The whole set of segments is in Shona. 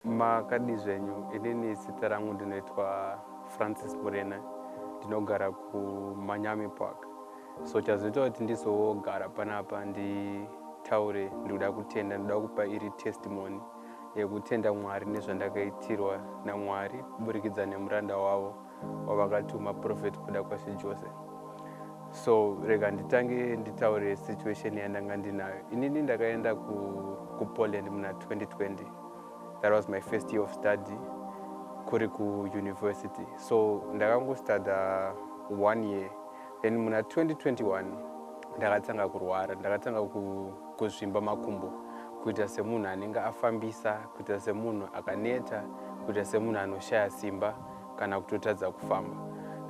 Makadii zvenyu, inini zita rangu ndinoitwa Francis Murena ndinogara kuManyami Park. So chazoita kuti ndizogara panapa nditaure ndikuda kutenda, ndikuda kupa iri testimony yekutenda Mwari nezvandakaitirwa naMwari kuburikidza nemuranda wavo. wavakatuma prophet kuda kwashe jose so rega nditange nditaure situation yandanga ndinayo inini ndakaenda kupoland ku muna 2020 that was my first year of study kuri kuuniversity so ndakangostuda one year then muna 2021 ndakatanga kurwara ndakatanga kuzvimba makumbo kuita semunhu anenge afambisa kuita semunhu akaneta kuita semunhu anoshaya simba kana kutotadza kufamba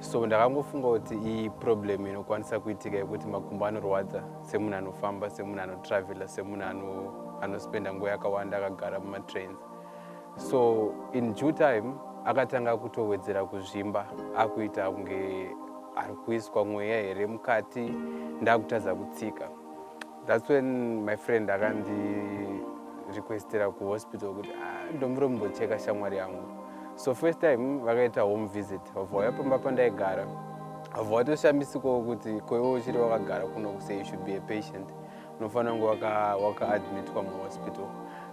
so ndakangofunga kuti iyi problem inokwanisa kuitika yekuti makumbo anorwadza semunhu anofamba semunhu anotravela semunhu anospenda nguva yakawanda akagara mumatrains so in due time akatanga kutowedzera kuzvimba akuita kunge ari kuiswa mweya here mukati ndakutadza kutsika That's when my friend akandi requestira kuhospital kuti ah, ndombiro mumbocheka shamwari yangu so first time vakaita home visit vauya pamba pandaigara vabva vatoshambisikoo kuti koiwe uchiri wakagara kuno kusei you should be a patient unofanira kunge wakaadmitwa waka muhospital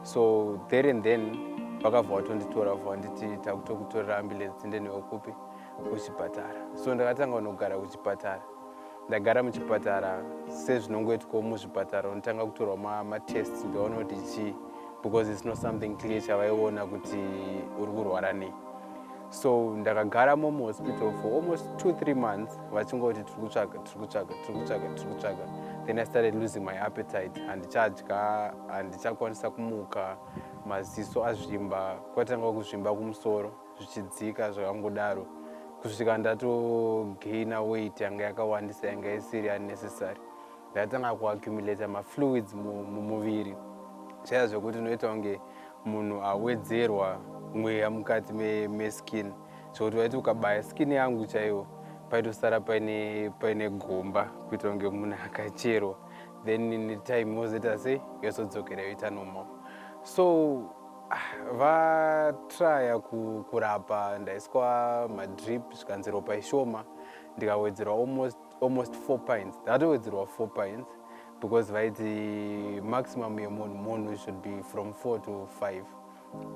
so there and then vakabva vatonditora bva vanditi takutokutorera ambulance tiende newe kupi kuchipatara so ndakatanga kunogara kuchipatara ndagara muchipatara sezvinongoitwawo muzvipatara unotanga kutorwa matests kuti vaone kuti chii because its not something clear chavaiona kuti uri kurwara nei so ndakagara momu hospital for almost two three months vachingoti tiri kutsvaga tiri kutsvaga tiri kutsvaga tiri kutsvaga then i started losing my appetite handichadya handichakwanisa kumuka maziso azvimba kwatanga kuzvimba kumusoro zvichidzika zvakangodaro kusvika ndatogaina weight yanga yakawandisa yanga isiri unnecessary ndatanga kuaccumulata mafluids mumuviri chaya zvekuti unoita kunge munhu awedzerwa mweya mukati meskin me zvekuti waiti ukabaya skin yangu chaiwo paitosara paine paine gomba kuita kunge munhu akacherwa then time wozoita sei yozodzokera yoita normal so vatraya kurapa ndaiswa madrip zvikanzi ropa ishoma ndikawedzerwa almost, almost four pints ndatowedzerwa four pints because vaiti maximum yemunhu munhu should be from four to five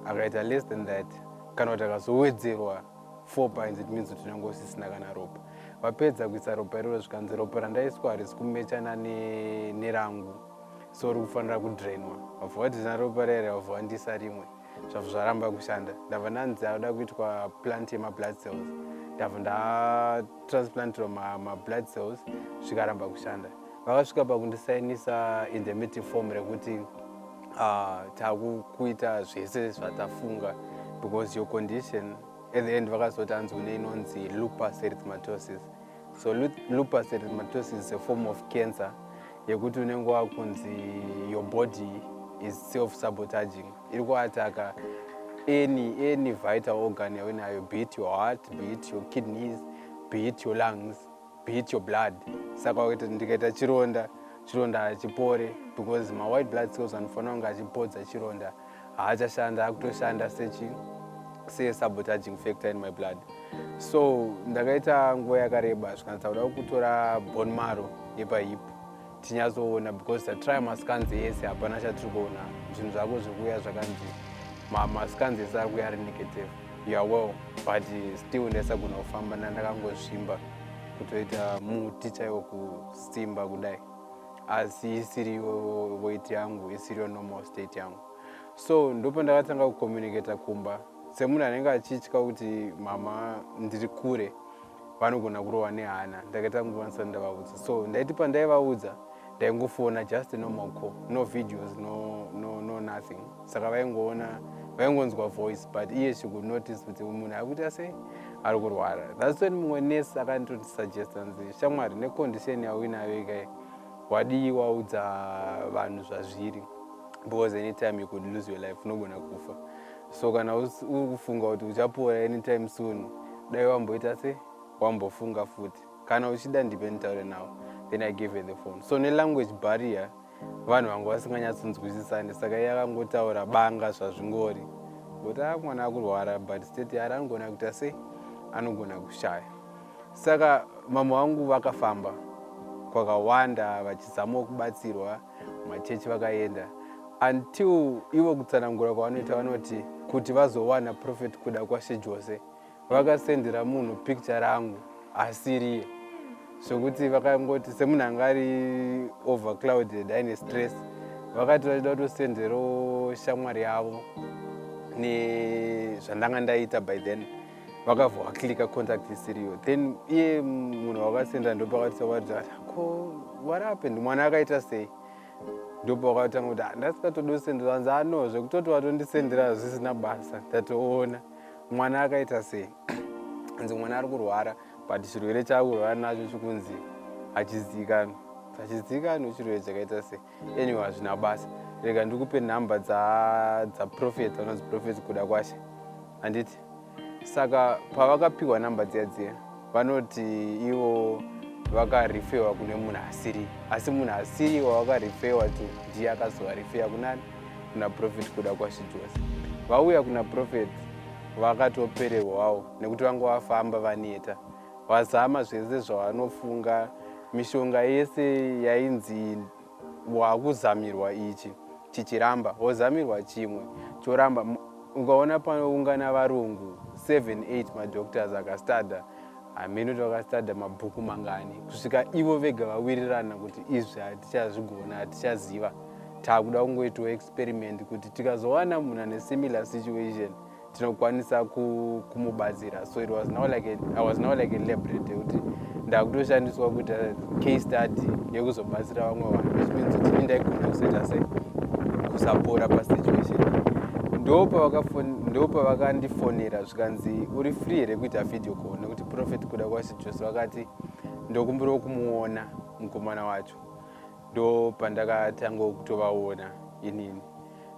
akaita less than that kana kuti akazowedzerwa four pints it means kuti unenge usisina kana ropa vapedza kuisa ropa iroro zvikanzi ropa randaiswa harisi kumechana nerangu ne so uri kufanira kudrainwa wabva wadzina ropa riya riya wabva wandisa rimwe zvabva zvaramba kushanda ndabva ndanzi akuda kuitwa plant yemablood cells ndabva ndatransplantirwa mablood cells zvikaramba kushanda vakasvika pakundisainisa indemity form rekuti ah, takukuita zvese zvatafunga because your condition at the end vakazoti hanzi une inonzi lupus erythmatosis So lupus erythematosus is a form of cancer yekuti unenge wakunzi your body is self sabotaging iri kuataka any any vital organ yauinayo be it your heart be it your kidneys be it your lungs be it your blood saka wakaita ndikaita chironda chironda hachipore because mawhite blood cells anofanira kunge achipodza chironda haachashanda akutoshanda sechi sesabotaging factor in my blood so ndakaita nguva yakareba zvikanatsa kuda kutora bon maro yepahip tinyazoona because tatry mascans ese hapana chatiri kuona zvinhu zvako zviri kuuya zvakanzi mascans ese ari kuya ari negative youre well but still ndaisagona kufamba ndandakangozvimba kutoita muti chaiwo kusimba kudai asi isiriyo weight yangu isiriyo normal state yangu so ndopo ndakatanga kucommunicata kumba semunhu anenge achitya kuti mama ndiri kure vanogona kurova nehana ndakaita kungovanisati ndavaudza so ndaiti pandaivaudza ndaingofona just normal co no videos no, no, no nothing saka vaingoona vaingonzwa voice but iye she could notice kuti munhu akuita sei ari kurwara thats when mumwe nurse akandotisuggesta nzi shamwari necondition yauinayo ikai wadii waudza vanhu zvazviri because anytime you could lose your life unogona kufa so kana uri kufunga kuti uchapora anytime soon dai wamboita se wambofunga futi kana uchida ndipe nditaure nawo then i gave her the phone so nelanguage barrier vanhu vanga vasinganyatsonzwisisani saka iye akangotaura banga zvazvingori kuti a mwana akurwara but state yari anogona kuita sei anogona kushaya saka mama vangu vakafamba kwakawanda vachizamawo kubatsirwa machechi vakaenda until ivo kutsanangura kwavanoita vanoti kuti vazowana profet kuda kwashe jose Vakasendera munhu picture rangu asiriye zvekuti vakangoti semunhu anga ari overclouded aine stress vakati vachida kutosenderawo shamwari yavo nezvandanga ndaita by then vakavha vaklika contact isiriyo then iye munhu wakasendera ndopakatisa kuti ko warape ndimwana akaita sei ndopa wakatanga kuti ah, ndasikatodosenderanzi ano zvekutoti watondisendera zvisina basa ndatoona mwana akaita sei hanzi mwana ari kurwara but chirwere chaakurwara nacho chikunzi hachizivikanwa hachizivikanwa chirwere chakaita sei anyway hazvina basa rega ndikupe nhamba dzaprofet anonzi profet kuda kwashe handiti saka pavakapiwa nhamba dziya dziya Vanoti ivo vakarifewa kune munhu asiri asi munhu asiri wavakarifewa to ndiye akazovarifeya kunani kuna profet kuda kwashijosi vauya kuna profet vakatopererwawo nekuti vanga vafamba vaneta vazama zvese zvavanofunga mishonga yese yainzi wakuzamirwa ichi chichiramba wozamirwa chimwe choramba ukaona panoungana varungu 78 madoctors akastada hameno kuti vakastada mabhuku mangani kusvika ivo vega vawirirana kuti izvi hatichazvigona hatichaziva takuda kungoitawo experiment kuti tikazowana munhu ane similar situation tinokwanisa kumubatsira so it was now like a, i was now like a lebrate yekuti ndakutoshandiswa kuita case study yekuzobatsira vamwe vanhu which means kuti ini ndaigona kuzoita se kusapora pasituation ndopa vakandifonera zvikanzi uri free here kuita video call nekuti profet kuda kwasi jose vakati ndokumbirawo kumuona mukomana wacho ndopandakatanga kutovaona inini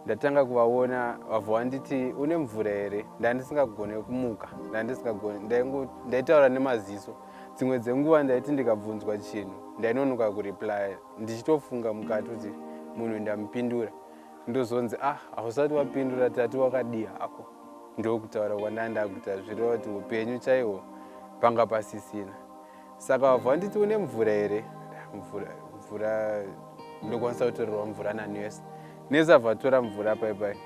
ndatanga kuvaona vabva vanditi une mvura here ndandisingagone kumuka ndandisingagone ndaitaura nemaziso dzimwe dzenguva ndaiti ndikabvunzwa chinhu ndainonoka kureplya ndichitofunga mukati kuti munhu ndamupindura ndozonzi ah hausati wapindura tati wakadii hako ndokutaura kwandandaakuita zvireva kuti upenyu chaiwo panga pasisina Saka wabva wanditi une mvura here? Mvura, mvura ndokwanisa kutorerwa mvura nani yose. Nesa abva atora mvura pai pai.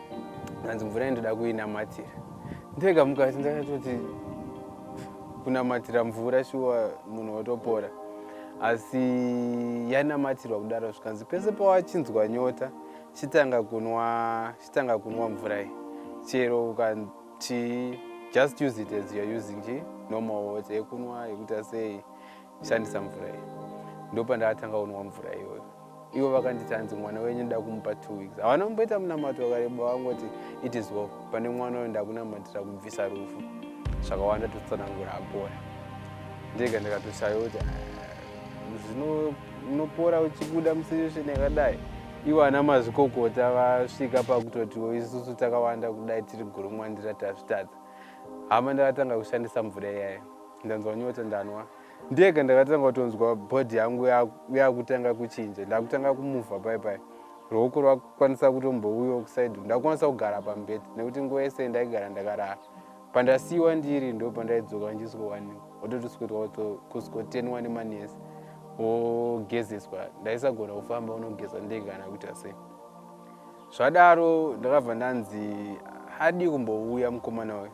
Hanzi mvura yandoda kuinamatira. Ndega mukati ndakatoti kunamatira mvura shuwa munhu wotopora. Asi yanamatirwa kudaro zvikanzi pese pawachinzwa nyota chitanga kunwa chitanga kunwa mvura iyi. Chero uka Chii? Just use it as you're using chi normal water yekunwa yekuita sei. Shandisa mvura iyi. Ndopandatanga kunwa mvura iyoyo. Ivo vakanditi hanzi mwana wenyu nda kumupa two weeks. Havana kumboita munamato wakareba vangoti it is well. Pane mwana uyo ndakunamatira kubvisa rufu. Zvakawanda totsanangura apora. Ndega ndakatoshaya kuti ah, zvino unopora uchibuda musituation yakadai. Ivo ana mazvikokota vasvika pakutotiwo isusu takawanda kudai tiri guru mwandira tazvitadza. Hama ndakatanga kushandisa mvura iyayo. Ndanzwa nyota ndanwa. Ndega ndakatanga kutonzwa body yangu yakutanga kuchinja. Ndakutanga kumuvha pai pai. Ruoko rwakukwanisa kutombouyo kuside. Ndakukwanisa kugara pambed nekuti nguva yese ndaigara ndakarara. Pandasiiwa ndiri ndo pandaidzoka ndichisikowanikwa ototiswirwa kusikotenwa nemanesi wogezeswa ndaisagona kufamba unogeza ndege kana kuita sei zvadaro ndakabva ndanzi hadi kumbouya mukomana uyu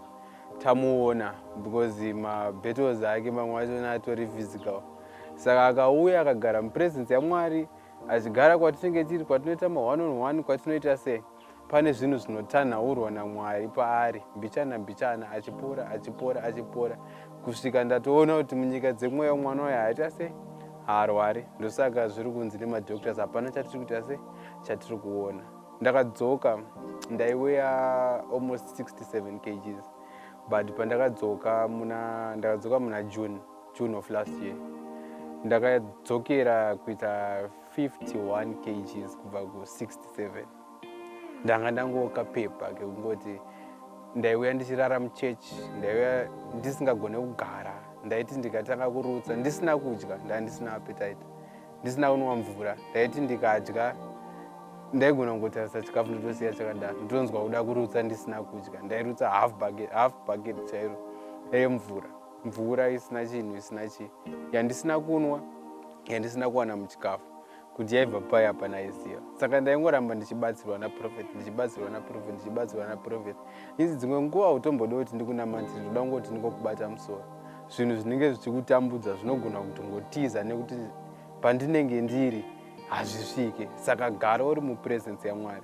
tamuona because mabattles ake mamwe achona atori physical saka akauya akagara mupresence yamwari achigara kwatinenge tiri kwatinoita ma one on one kwatinoita sei Pane zvinhu zvinotanhaurwa naMwari paari mbichana mbichana, achipora achipora achipora kusvika ndatoona kuti munyika dzemweya mwana uyo haaita sei, haarwari. Ndosaka zviri kunzi nemadoctors hapana chatiri kuita sei, chatiri kuona. Ndakadzoka ndaiweya almost 67 kgs but pandakadzoka muna ndakadzoka muna June, June of last year ndakadzokera kuita 51 kgs kubva ku67 ndanga ndangoka pepa kekungoti ndaiuya ndichirara muchechi ndaiuya ndisingagone kugara ndaiti ndikatanga kurutsa ndisina kudya ndaa ndisina apetite ndisina kunwa mvura ndaiti ndikadya ndaigona kungotarisa chikafu ndotosiya chakadaro ndonzwa kuda kurutsa ndisina kudya ndairutsa half bucket chairo yemvura mvura isina chinhu isina chii yandisina kunwa yandisina kuwana muchikafu kuti yaibva pai hapana aiziva saka ndaingoramba ndichibatsirwa naprofet ndichibatsirwa naprofet ndichibatsirwa naprofet izi dzimwe nguva utombode kuti ndikunamati ndoda kungoti ndingokubata musoro zvinhu zvinenge zvichikutambudza zvinogona kuti ngotiza nekuti pandinenge ndiri hazvisvike saka gara uri mupresence yamwari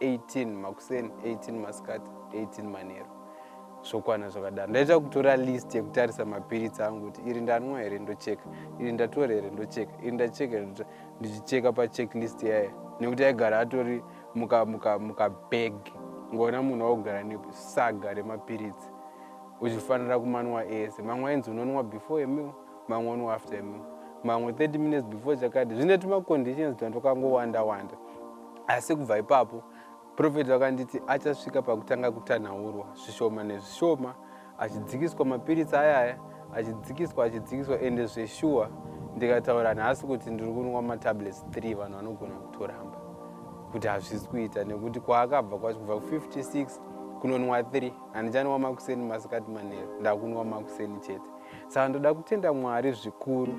18 makuseni 18 masikati 18 manheru zvokwana zvakadaro ndaita kutora list yekutarisa mapiritsi angu kuti iri ndanwa here ndocheka iri ndatora here ndocheka iri ndacheka here ndichicheka pachecklist yaye nekuti aigara atori mukabag muka, muka ngoona munhu waugara nesaga remapiritsi uchifanira kumanwa ese mamwe ainzi unonwa before emil mamwe unwa after emil mamwe 30 minutes before chakadi zvine tumaconditions twandokangowanda wanda, wanda. asi kubva ipapo profeti vakanditi achasvika pakutanga kutanhaurwa zvishoma nezvishoma achidzikiswa mapiritsi ayaya achidzikiswa achidzikiswa ende zveshuwa ndikataura nhasi kuti ndiri kunwa matablets 3 vanhu vanogona kutoramba kuti hazvisi kuita nekuti kwaakabva kwacho kubva ku56 kunonwa 3 handichanwa makuseni masikati manero ndakunwa makuseni chete saka ndoda kutenda mwari zvikuru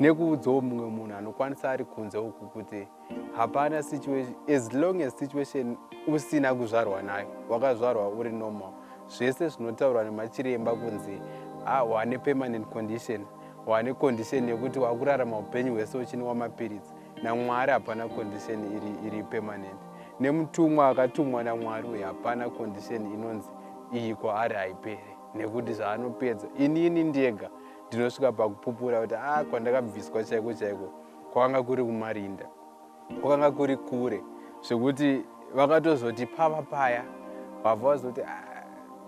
nekuudzawo mumwe munhu anokwanisa ari kunze uku kuti hapana situation as long as situation usina kuzvarwa nayo wakazvarwa uri normal zvese zvinotaurwa nemachiremba kunzi ah, wane permanent condition wane condition yekuti wakurarama upenyu hwese uchinwa mapiritsi namwari hapana condition iri, iri permanent nemutumwa akatumwa namwari uye hapana condition inonzi iyi kwaari haipere nekuti zvaanopedza inini ndega ndinosvika pakupupura kuti a ah, kwandakabviswa chaiko chaiko kwakanga kuri kumarinda kwakanga kuri kure zvekuti vakatozoti pava paya vabva vazoti ah,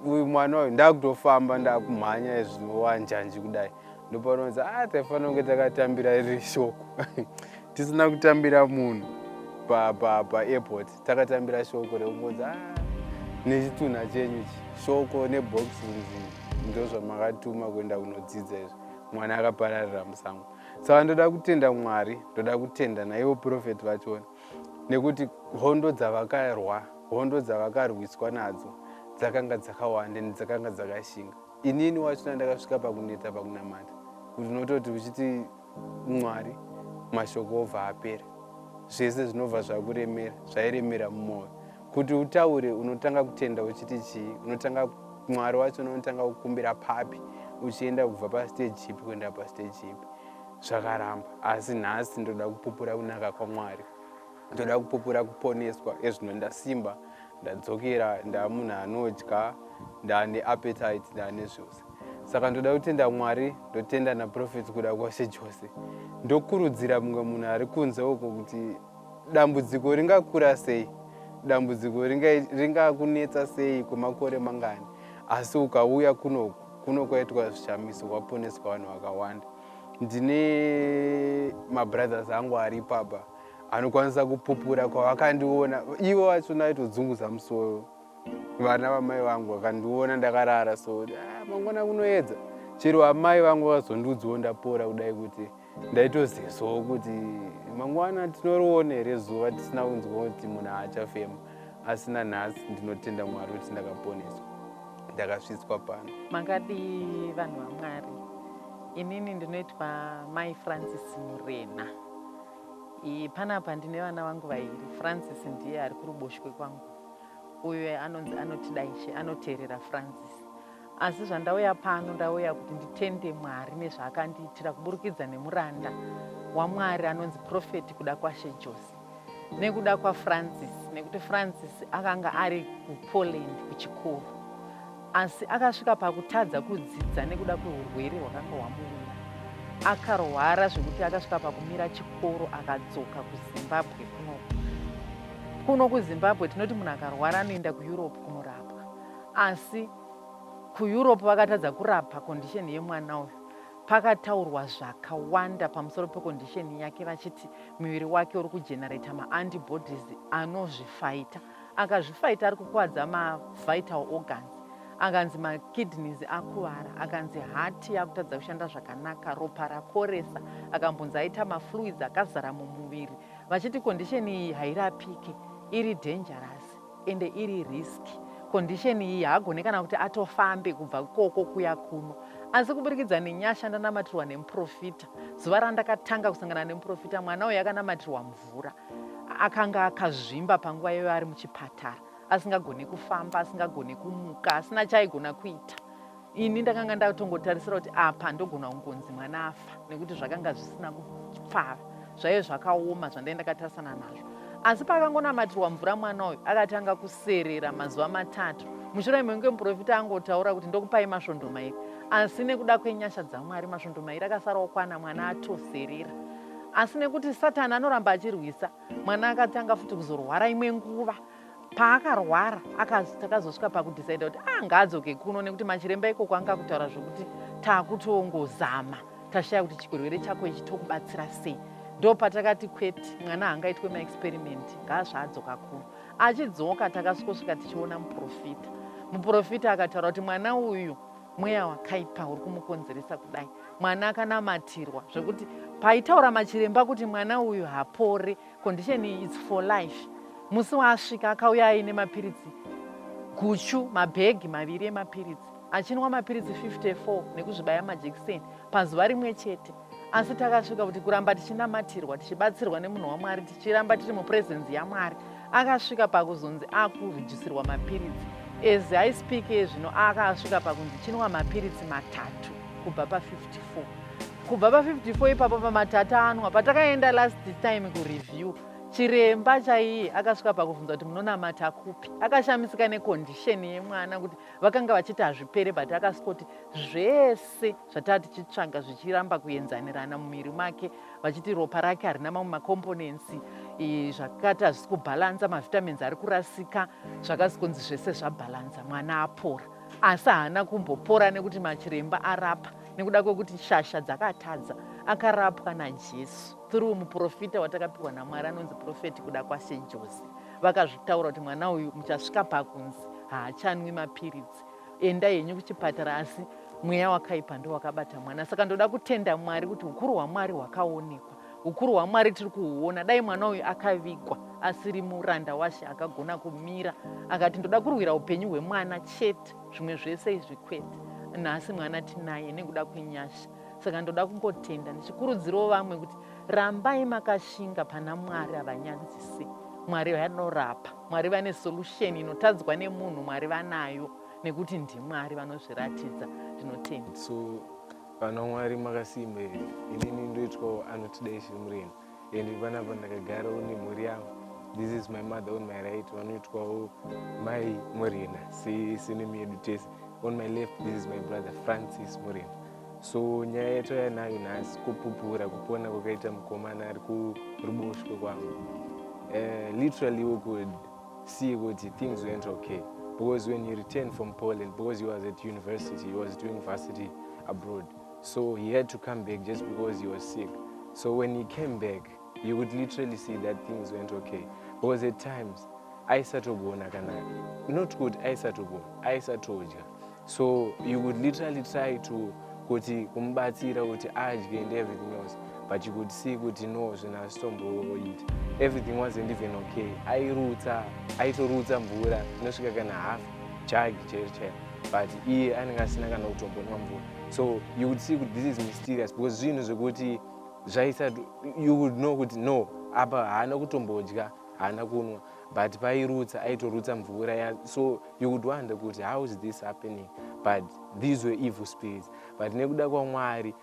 uyu mwana uyu ndakutofamba ndakumhanya zviwanjanji kudai ndopanozi a ah, taifanira kunge takatambira iri shoko tisina kutambira munhu paairport takatambira shoko rekungonzi a ah, nechitunha chenyu chi shoko neboxi nzi ndozvamakatuma kuenda kunodzidza izvi mwana akapararira musango saka ndoda kutenda mwari ndoda kutenda naivo profeti vachona nekuti hondo dzavakarwa hondo dzavakarwiswa nadzo dzakanga dzakawanda and dzakanga dzakashinga inini wachona ndakasvika pakuneta pakunamata kuti unototi uchiti mwari mashoko obva apera zvese zvinobva zvakuremera zvairemera mumwoyo Kuti utaure unotanga kutenda uchiti chii? Unotanga Mwari wacho unotanga kukumbira papi uchienda kubva pastage chipi kuenda pastage chipi? Zvakaramba. Asi nhasi ndoda kupupura kunaka kwaMwari. Ndoda kupupura kuponeswa. Ezvino ndasimba, ndadzokera, ndamunhu anodya, ndane appetite, ndane zvose. Saka ndoda kutenda Mwari, ndotenda naProphet kuda kwashe chose. Ndokurudzira mumwe munhu ari kunze uko kuti Dambudziko ringakura sei? Dambudziko ringakunetsa ringa sei kwemakore mangani? Asi ukauya kuno kuno kwaitwa zvishamiso kwaponeswa vanhu vakawanda. Ndine mabrothers angu ari papa anokwanisa kupupura kwavakandiona ivo vacho naitodzunguza musoro vana vamai vangu vakandiona ndakarara so ah, mangwana kunoedza chero amai vangu vazondiudzawo ndapora kudai kuti ndaitozivawo kuti mangwana tinoriona here zuva tisina kunzwa kuti munhu haachafema asi nanhasi ndinotenda mwari kuti ndakaponeswa ndakasvitswa pano makadii vanhu vamwari inini ndinoitwa mai francis murena panapa ndine vana vangu vairi francis ndiye ari kuruboshwe kwangu uyo anonzi anotidaishe anoteerera francis Asi zvandauya pano, ndauya kuti nditende Mwari nezvaakandiitira kuburikidza nemuranda waMwari anonzi Prophet Kudakwashe Josi nekuda kwaFrancis nekuti Francis akanga ari kuPoland kuchikoro asi akasvika pakutadza kudzidza nekuda kweurwere hwakanga hwamuwira akarwara zvekuti akasvika pakumira chikoro akadzoka kuzimbabwe kuno kuno kuzimbabwe tinoti munhu akarwara anoenda kueurope kunorapwa asi kuEurope vakatadza kurapa condition yemwana uyu pakataurwa zvakawanda pamusoro pecondition yake vachiti miviri wake uri kugenerator maantibodies anozvifaita akazvifaita ari kukuvadza mavital organs akanzi makidneys akuvara akanzi hati yakutadza kushanda zvakanaka ropa rakoresa akambonzi aita mafluids akazara mumuviri vachiti condition iyi hairapike iri dangerous ende iri risk condition iyi haagone kana kuti atofambe kubva ikoko kuya kuno asi kuburikidza nenyasha ndanamatirwa nemuprofita zuva randakatanga kusangana nemuprofita mwana uyo akanamatirwa mvura akanga akazvimba panguva iyoyo ari muchipatara asingagone kufamba asingagone kumuka asina chaaigona kuita ini ndakanga ndatongotarisira kuti apa ndogona kungonzi mwana afa nekuti zvakanga zvisina kupfava zvaive zvakaoma zvandai ndakatarisana nazvo asi paakangonamatirwa mvura mwana uyu akatanga kuserera mazuva matatu mushure mekunge muprofita angotaura kuti ndokupai masvondo mairi asi nekuda kwenyasha dzamwari masvondo mairi akasara okwana mwana atoserera asi nekuti satani anoramba achirwisa mwana akatanga futi kuzorwara imwe nguva paakarwara akanzi takazosvika pakudhicida kuti ah ngaadzoke kuno nekuti machiremba ikoko anga akutaura zvokuti taakutongozama tashaya kuti chirwere chako ichi tokubatsira sei ndo patakati kwete mwana hangaitwe maexperimenti ngaazvaadzoka kuno achidzoka takasvikosvika tichiona muprofita muprofita akataura kuti mwana uyu mweya wakaipa uri kumukonzeresa kudai mwana akanamatirwa zvekuti paitaura machiremba kuti mwana uyu hapore Condition iyi it's for life. Musi waasvika akauya aine mapiritsi guchu, mabhegi maviri emapiritsi achinwa mapiritsi 54 nekuzvibaya majekiseni pazuva rimwe chete asi takasvika kuti kuramba tichinamatirwa tichibatsirwa nemunhu wamwari tichiramba tiri mupresence yamwari akasvika pakuzonzi akurejisirwa mapiritsi as i speak ezvino akaasvika pakunzi chinwa mapiritsi matatu kubva pa 54 kubva pa 54 ipapo pamatatanwa patakaenda last time kureview chiremba chaiye akasvika pakubvunza kuti munonamata kupi akashamisika nekondisheni yemwana kuti vakanga vachiti hazvipere but akasvika kuti zvese zvataa tichitsvaga zvichiramba kuenzanirana mumiri make vachiti ropa rake harina mamwe makomponensi zvakati hazvisi kubhalansa mavitamins ari kurasika zvakasi kunzi zvese zvabhalansa mwana apora asi haana kumbopora nekuti machiremba arapa nekuda kwekuti shasha dzakatadza akarapwa najesu through muprofita watakapiwa namwari anonzi profeti kuda kwashe jose vakazvitaura kuti mwana uyu muchasvika pakunzi haachanwi mapiritsi enda henyu kuchipatara asi mweya wakaipa ndo wakabata mwana saka ndoda kutenda mwari kuti ukuru hwamwari hwakaonekwa ukuru hwamwari tiri kuhuona dai mwana uyu akavigwa asiri muranda washe akagona kumira akati ndoda kurwira upenyu hwemwana chete zvimwe zvese izvi kwete nhasi mwana tinaye nekuda kwenyasha saka ndoda kungotenda ndichikurudzirawo vamwe kuti rambai makashinga pana mwari havanyanzise mwari vanorapa mwari vane solution inotadzwa nemunhu mwari vanayo nekuti ndimwari vanozviratidza zvinotenda so vana mwari makasimba here inini ndoitwawo anotidai zviri mureni and panapa ndakagarawo nemhuri yavo this is my mother on my right vanoitwawo mai morena senemi yedu tese on my left this is my brother francis morena so nyaya yatouya nayo nhasi kupupura kupona kwakaita mukomana ari kuruboshwe kwangu uh, eh, literally we could see kuti things went okay because when he returned from poland because he was at university he was doing varsity abroad so he had to come back just because he was sick so when he came back you could literally see that things went okay because at times aisatogona kana not kuti aisatogona aisatodya so you could literally try to kuti kumubatsira kuti adye and everything else but you could see kuti no zvinhu asitomboita everything wasn't even okay airutsa aitorutsa mvura inosvika kana half jagi chairo chairo but iye anenge asina kana kutombonwa mvura so you would see kuti this is mysterious because zvinhu zvekuti zvaisa you would know kuti no apa haana kutombodya haana kunwa but pairutsa aitorutsa mvura ya so you would wonder kuti how is this happening but these were evil spirits but nekuda kwamwari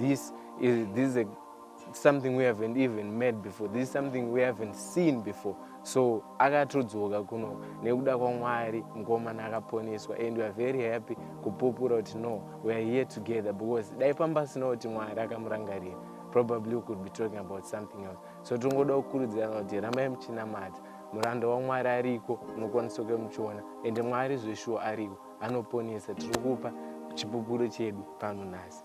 This is, this is a, something we haven't even met before. This is something we haven't seen before. So akatodzoka kuno nekuda kwaMwari mukomana akaponeswa and we are very happy kupupura kuti no we are here together because dai pambasina kuti Mwari akamurangarira probably we could be talking about something else. So tingoda kukurudzirana kuti rambai muchinamata muranda waMwari ariko munokwanisa kuya muchiona and Mwari zveshuwa ariko. anoponesa tiri kupa chipupuro chedu pano nhasi